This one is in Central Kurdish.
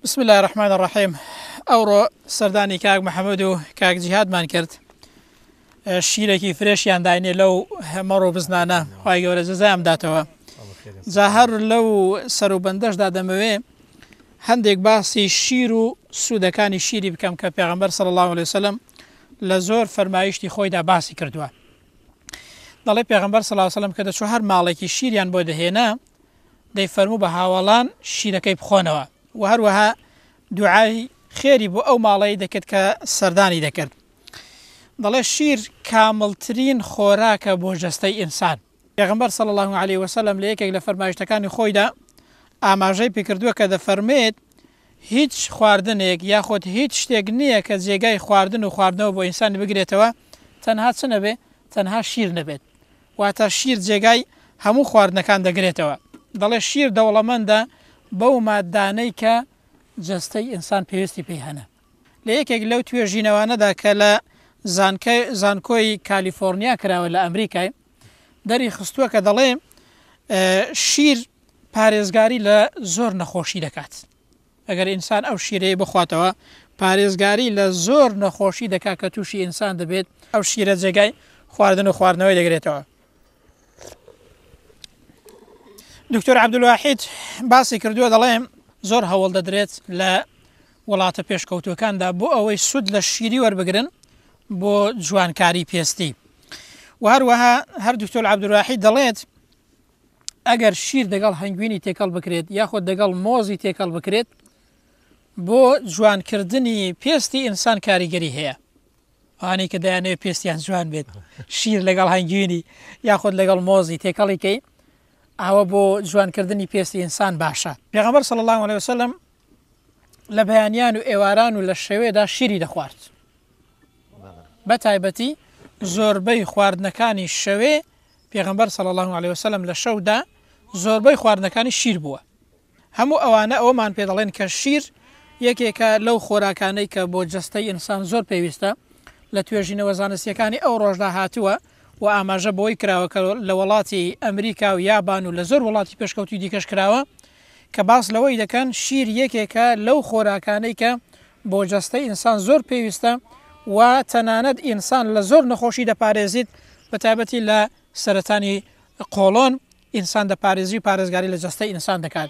بسم الله الرحمن الرحیم ئەوڕۆ سەردانی کاک محەممەد و کاک جیهادمان کرد شیرێکی فرێشیان داینێ لەو هەمەڕ و بزنانە خی گەورە جزایان داتەوە جا هەر لەو سەر و بەندەشدا دەمەوێ هەندێک باسی شیر و سوودەکانی شیری بکەم کە پێغمبەر سەر الله عليه وسلم لە زۆر فەرمایشتی خۆیدا باسی کردووە دەڵێ پێغمبەر سەلاسەلم کە دەچوو هەر ماڵێکی شیریان بۆ دەهێنا دەی فەرموو بە هاوەڵان شیرەکەی بخۆنەوە و هەروەها دوعای خێری بۆ ئەو ماڵەی دەکرد کە سەردانی دەکرد دەڵێ شیر کامڵترین خۆراکە بۆ جەستەی ئینسان پێغمبەر صلی الله عليه وسلم لە یەکێک لە فەرمایشتەکانی خۆیدا ئاماژەی پێکردووە کە دەفەرمێت هیچ خواردنێک یاخود هیچ شتێک نییە کە جێگای خواردن و خواردنەوە بۆ ئینسانی بگرێتەوە تەنها چ نەبێ تەنها شیر نەبێت واتە شیر جێگای هەموو خواردنەکان دەگرێتەوە، دەڵێت شیر دەوڵەمەندە بەو ماددانەی کە جەستەی ئینسان پێویستی پێی هەنە. لە یەکێک لەو توێژینەوانەدا کە لە زانکای زانکۆی کالیفۆرنیا کراوە لە ئەمریکای دەری خستووە کە دەڵێ شیر پارێزگاری لە زۆر نەخۆشی دەکات. ئەگەر ئینسان ئەو شیرەی بخواتەوە پارێزگاری لە زۆر نەخۆشی دەکات کە تووشی ئینسان دەبێت ئەو شیرە جێگای خواردن و خواردنەوەی دەگرێتەوە دکتۆر عبدواحید باسی کردووە دەڵێم زۆر هەوڵ دەدرێت لە وڵاتە پێشکەوتوەکاندا بۆ ئەوەی سود لە شیری وەربگرن بۆ جوانکاری پێستی و هەروەها هەر دکتۆر عبدواحید دەڵێت ئەگەر شیر دەگەڵ هەنگوینی تێکەڵ بکرێت یاخود دەگەڵ مۆزی تێکەڵ بکرێت بۆ جوانکردنی پێستی ئینسان کاریگەری هەیە ئەوانەی کە دایانەوێت پێستیان جوان بێت شیر لەگەڵ هەنگوینی یاخود لەگەڵ مۆزی تێکەڵیکەی ئاوە بۆ جوانکردنی پێستی ئینسان باشە پێغەمبەر صلی الله عليه وسلم لە بەیانیان و ئێواران و لە شەوێدا شیری دەخوارد بە تایبەتی زۆربەی خواردنەکانی شەوێ پێغمبەر سەڵ الله عليه وسلم لە شەودا زۆربەی خواردنەکانی شیر بووە هەموو ئەوانە ئەومان پێ دەڵێن کە شیر یەکێکە لەو خۆراکانەی کە بۆ جستەی ئینسان زۆر پێویستە لە توێژینەوە زانستیەکانی ئەو ڕۆژدا هاتووە و ئاماژە بۆی کراوە کە لە وڵاتی ئەمریکا و یابان و لە زۆر وڵاتی پێشکەوتی دیکەش کراوە کە باس لەوەی دەکەن شیر یەکێکە لەو خۆراکانەی کە بۆ جەستەی ئینسان زۆر پێویستە و تەنانەت ئینسان لە زۆر نەخۆشی دەپارێزیت بە تایبەتی لە سەرەتانی قۆڵۆن ئینسان دەپارێزی و پارێزگاری لە جەستەی ئینسان دەکات.